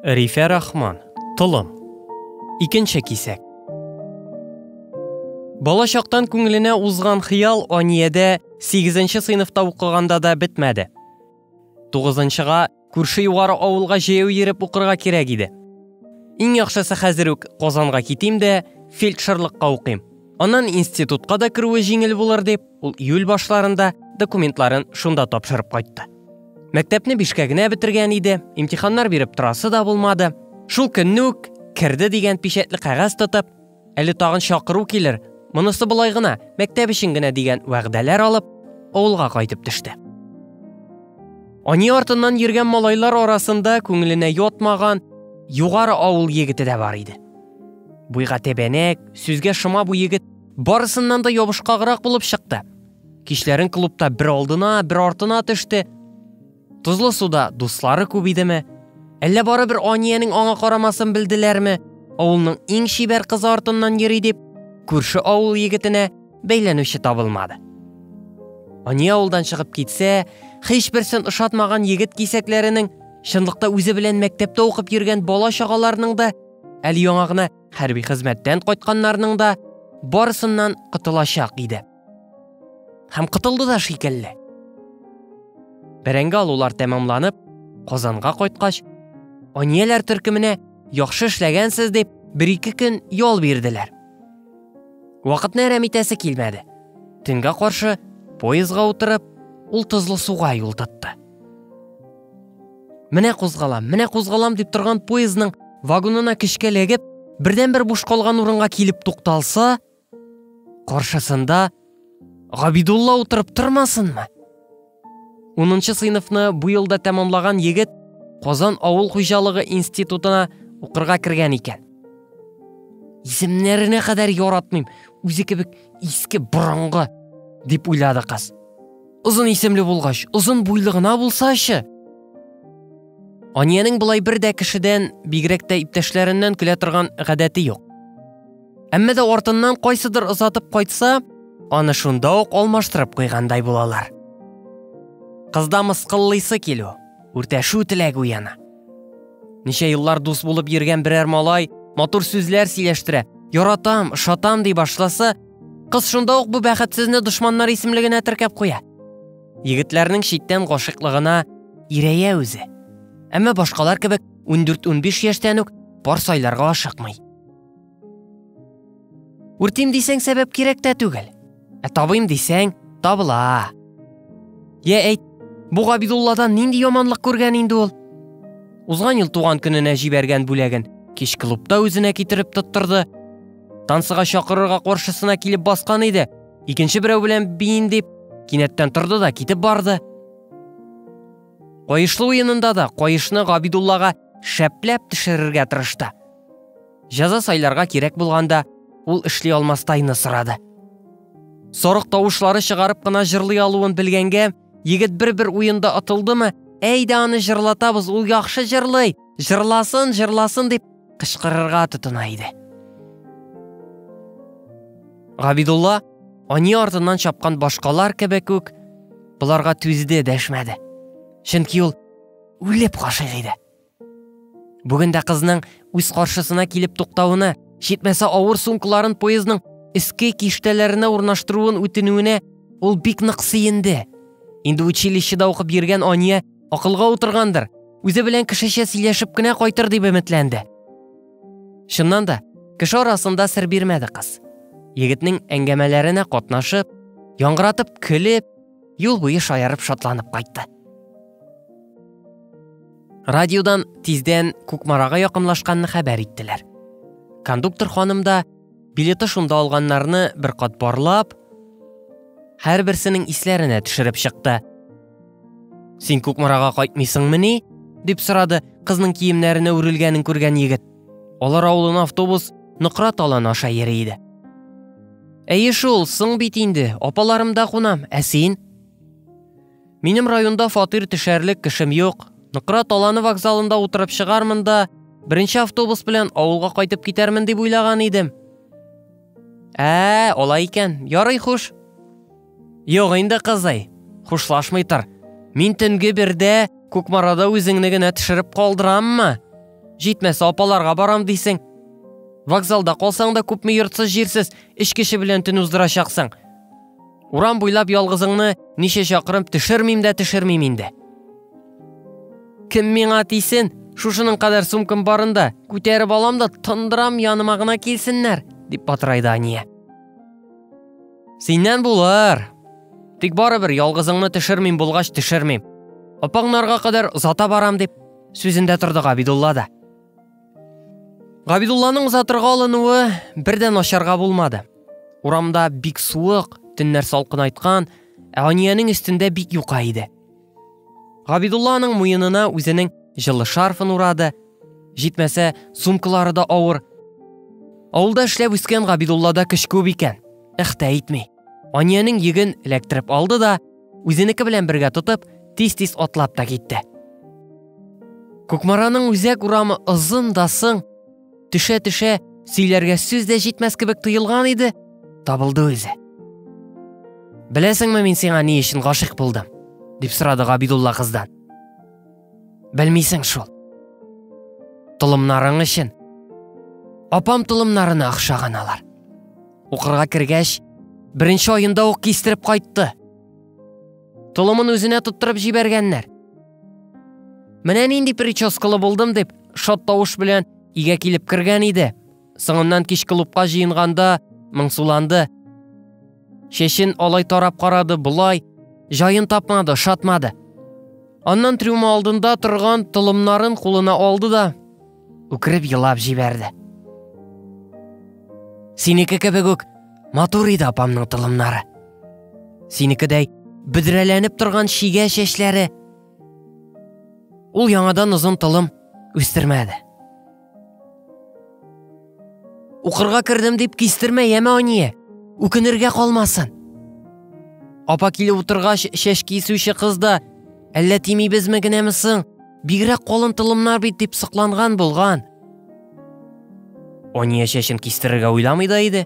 Рифә Рахман, Толым. Икенче кисәк. Бала чактан күңеленә узган хыял Аниядә 8нче сыйныфта укыганда да бетмәде. 9нчыга күрше югары авылга җәяү йөреп укырга кирәк иде. Иң яхшысы хәзер үк Казанга китим дә, фельдшерлыкка укыйм. Аннан институтка да керүе җиңел булыр дип, Ул июль башларында документларын шунда тапшырып кайтты. Мәктәпне бишкә генә бетергән иде, имтиханнар биреп торасы да булмады. Шул көнне үк керде дигән печәтле кәгазь тотып, әле тагын чакыру килер, монысы болай гына, мәктәп өчен генә дигән вәгъдәләр алып, авылга кайтып төште. Ани артыннан йөргән малайлар арасында күңеленә ятмаган югары авыл егете дә бар иде. Буйга тәбәнәк, сүзгә шома бу егет Барысыннан да ябышкаграк булып чыкты. Кичләрен клубта бер алдына, бер артына төште. Тозлы суда дуслары күп идеме? Әллә барыбер Аниянең аңа карамасын белделәрме? Авылның иң чибәр кызы артыннан йөри дип, күрше авыл егетенә бәйләнүче табылмады. Ания авылдан чыгып китсә, һичберсен ошатмаган егет кисәкләренең чынлыкта үзе белән мәктәптә укып йөргән бала чагаларының да әле яңа гына хәрби хезмәттән кайтканнарның да барысыннан котылачак иде. Һәм котылды да шикелле. Бәрәңге алулар тәмамланып, Казанга кайткач, анияләр төркеменә яхшы эшләгәнсез дип бер-ике көн ял бирделәр. Вакытны әрәм итәсе килмәде. Төнгә каршы поездга утырып, ул тозлы суга юл тотты. Менә кузгалам, менә кузгалам дип торган поездның вагонына көчкә ләгеп, бердән бер буш калган урынга килеп тукталса, каршысында Габидулла утырып тормасынмы? Унынчы сыйныфны бу елда тәмамлаган егет Казан авыл хуҗалыгы институтына укырга кергән икән. Исемнәренә кадәр яратмыйм, үзе кебек иске борынгы, дип уйлады кыз. Озын исемле булгач, озын буйлы гына булсачы? Аниянең болай бер дә кешедән, бигрәк тә иптәшләреннән көлә торган гадәте юк. Әмма дә артыннан кайсыдыр озатып кайтса, аны шунда ук алмаштырып куйгандай булалар. Кызда мыскыллыйсы килү, үртәшү теләге уяна. Ничә еллар дус булып йөргән берәр малай матур сүзләр сөйләштерә, яратам, шатам ди башласа, Кыз шунда ук бу бәхетсезне дошманнар исемлегенә теркәп куя. Егетләрнең читтән гашыйклыгына ирәя үзе. Әмма башкалар кебек 14-15 яшьтән үк пар сайларга ашыкмый. Үртим дисәң сәбәп кирәк тә түгел. Ә табыйм дисәң, табыла. Я әйт, бу Габидулладан нинди яманлык күргән инде ул? Узган ел туган көненә җибәргән бүләген кич клубта үзенә китереп тоттырды, Тансыга чакырырга каршысына килеп баскан иде. Икенче берәү белән биен дип, кинәттән торды да китеп барды. Каешлы уенында да каешны Габидуллага шәпләп төшерергә тырышты. Жаза сайларга кирәк булганда, ул эшли алмастайны сорады. Сорык тавышлары чыгарып кына җырлый алуын белгәнгә, егет бер-бер уенда атылдымы, әйдә аны җырлатабыз, ул яхшы җырлый, җырласын, җырласын дип кычкырырга тотына иде. Габидулла ани артыннан чапкан башкалар кебек үк боларга түзде дәшмәде. Чөнки ул үлеп гашыйк иде. Бүген дә кызның үз каршысына килеп туктавына, җитмәсә авыр сумкаларын поездның өске киштәләренә урнаштыруын үтенүенә ул бик нык сөенде. Инде училищеда укып йөргән Ания Акылга утыргандыр, үзе белән кешечә сөйләшеп кенә кайтыр дип өметләнде. Чыннан да, кеше арасында сер бирмәде кыз. Егетнең әңгәмәләренә катнашып, яңгыратып көлеп, юл буе шаярып шатланып кайтты. Радиодан тиздән Кукмарага якынлашканны хәбәр иттеләр. Кондуктор ханым да билеты шунда алганнарны бер кат барлап, һәрберсенең исләренә төшереп чыкты. Син Кукмарага кайтмыйсыңмыни? дип сорады кызның киемнәренә үрелгәнен күргән егет. Алар авылына автобус Ныкрат алан аша йөри иде. Әйе шул, соң бит инде, апаларымда кунам, ә син? Минем районда фатир төшәрлек кешем юк. Ныкрат аланы вокзалында утырып чыгармын да, беренче автобус белән авылга кайтып китәрмен дип уйлаган идем. Ә, алай икән, ярый хуш. Юк инде, кызый, хушлашмый тор. Мин төнге бердә Кукмарада үзеңне генә төшереп калдыраммы? Җитмәсә апаларга барам дисең. Вокзалда калсаң да күпме йортсыз җирсез эш кеше белән төн уздырачаксың. Урам буйлап ялгызыңны ничә чакрым төшермим дә төшермим инде. Кем миңа тисен? Шушының кадәр сумкам барында, күтәреп алам да тондырам яныма гына килсеннәр, дип батырайды Ания. Синнән булыр. Тик барыбер ялгызыңны төшермим булгач төшермим. Апаңнарга кадәр озата барам дип сүзендә торды Габидулла да. Габидулланың озатырга алынуы бердән ашарга булмады. Урамда бик суык, төннәр салкынайткан, ә Аниянең өстендә бик юка иде. Габидулла аның муенына үзенең җылы шарфын урады. Җитмәсә, сумкалары да авыр. Авылда эшләп үскән Габидуллада көч күп икән. Ихтә итми. Аниянең йөген эләктереп алды да, үзенеке белән бергә тотып, тиз-тиз атлап та китте. Кукмараның үзәк урамы озын да сың, Төшә-төшә, сөйләргә сүз дә җитмәс кебек тоелган иде, табылды үзе. Беләсеңме, мин сиңа ни өчен гашыйк булдым? дип сорады Габидулла кыздан. Белмисең шул. Толымнарың өчен. Апам толымнарына охшаган алар. Укырга кергәч, беренче аенда ук кистереп кайтты. Толымын үзенә тоттырып җибәргәннәр. Менә нинди прическалы булдым дип, шат тавыш белән игә килеп кергән иде. Соңыннан кич клубка җыенганда моңсуланды. Шешен алай тарап карады, болай, җаен тапмады, шатмады. Аннан трюма алдында торган толымнарын кулына алды да, үкереп елап җибәрде. Синеке кебек үк матур иде апамның тылымнары. Синекедәй бөдрәләнеп торган шигә чәчләре. Ул яңадан озын тылым үстермәде. Укырга кердем дип кистермә, яме ание. Үкенергә калмасын. Апа килеп утыргач, чәч кисүче кыз да, әллә тимибезме генәме соң? Бигрәк калын тылымнар бит дип сокланган булган. Ания чәчен кистерергә уйламый да иде.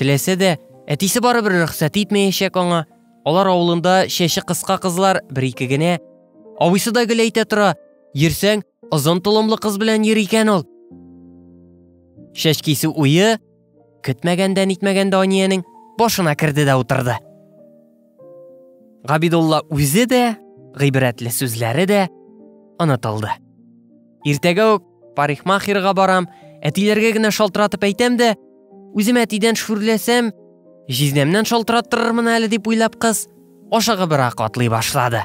Теләсә дә, әтисе барыбер рөхсәт итмәячәк аңа. Алар авылында чәче кыска кызлар бер-ике генә. Абыйсы да гел әйтә тора, йөрсәң, Озын толымлы кыз белән йөри икән ул. Шәч кисү уе көтмәгәндә нитмәгәндә Аниянең башына керде дә утырды. Габидулла үзе дә, гыйбрәтле сүзләре дә онытылды. Иртәгә үк парикмахерга барам, әтиләргә генә шалтыратып әйтәм дә, үзем әтидән шүрләсәм, җизнәмнән шалтыраттырырмын әле дип уйлап кыз ашыгыбрак атлый башлады.